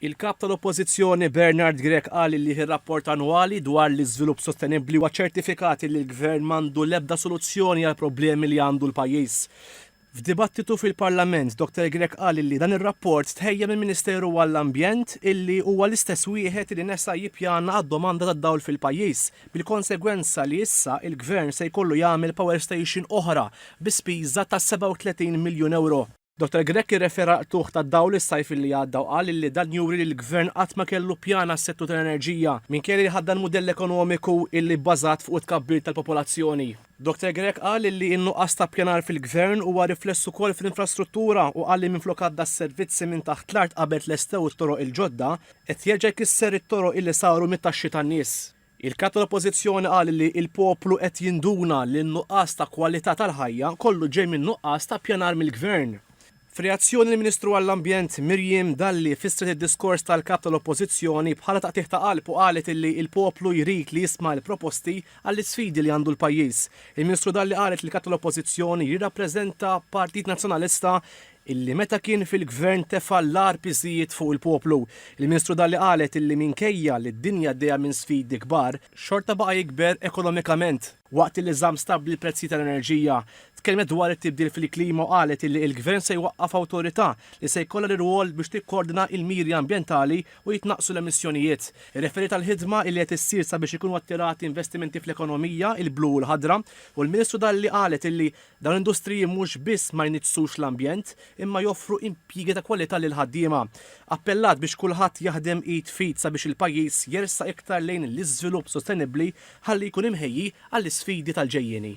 Il-Kap tal-Oppożizzjoni Bernard Grech qal li r-rapport annwali dwar l-iżvilupp sostenibbli huwa ċertifikati li l-Gvern m'għandu l-ebda soluzzjoni għall-problemi li għandu l-pajjiż. F'dibattitu fil-Parlament, Dr Grech qal li dan ir-rapport tħejja mill-Ministeru għall-Ambjent illi huwa l-istess wieħed li nesa jippjana għad-domanda tad-dawl fil-pajjiż bil-konsegwenza li issa il-Gvern se jkollu jagħmel power station oħra bi spiża ta' 37 miljun ewro. Dottor Grech irrefera għall-qtugħ tad-dawl is-sajf illi għadda u qal illi dan juri li l-Gvern qatt ma kellu pjan għas-settur tal-enerġija, minkejja li ħaddan mudell ekonomiku illi bbażat fuq it-tkabbir tal-popolazzjoni. Dottor Grech qal illi n-nuqqas ta' ppjanar fil-Gvern huwa rifless ukoll fl-infrastruttura u qal li minflok għadda s-servizzi minn taħt l-art qabel tlestew it-toroq il-ġodda, qed jerġa' jkisser it-toroq illi saru mit-taxxi tan-nies. Il-Kap tal-Oppożizzjoni qal li l-poplu qed jinduna li n-nuqqas ta' kwalità tal-ħajja kollu ġej minn nuqqas ta' ppjanar mill-Gvern. F'reazzjoni l-Ministru għall-Ambjent Miriam Dalli fissret id-diskors tal-Kap tal-Oppożizzjoni bħala taqtigħ ta' qalb u qalet li l-poplu jrid li jisma' l-proposti għall-isfidi li għandu l-pajjiż. Il-Ministru Dalli qalet li l-Kap tal-Oppożizzjoni jirrappreżenta Partit Nazzjonalista illi meta kien fil-Gvern tefa' l-agħar piżijiet fuq il-poplu. Il-Ministru Dalli qalet illi minkejja li d-dinja għaddejja minn sfidi kbar, xorta baqa' jikber ekonomikament. Waqt illi żamm stabbli l-prezzijiet tal-enerġija, tkellmet dwar it-tibdil fil-klima u qalet illi il-Gvern se jwaqqaf awtorità li se jkollha l-irwol biex tikkordina il-miri ambjentali u jitnaqqsu l-emissjonijiet. Irreferiet għall-ħidma illi qed issir sabiex ikunu attirati investimenti fl-ekonomija il-blu u l-ħadra u l-Ministru Dalli qalet illi Dawn l-industriji mhux biss ma jniġġsux l-ambjent imma joffru impjiegi ta' kwalità lill-ħaddiema. Appellat biex kulħadd jaħdem id f'id sabiex il-pajjiż jersaq iktar lejn l-iżvilupp sostenibbli ħalli jkun imħejji għall-isfidi tal-ġejjieni.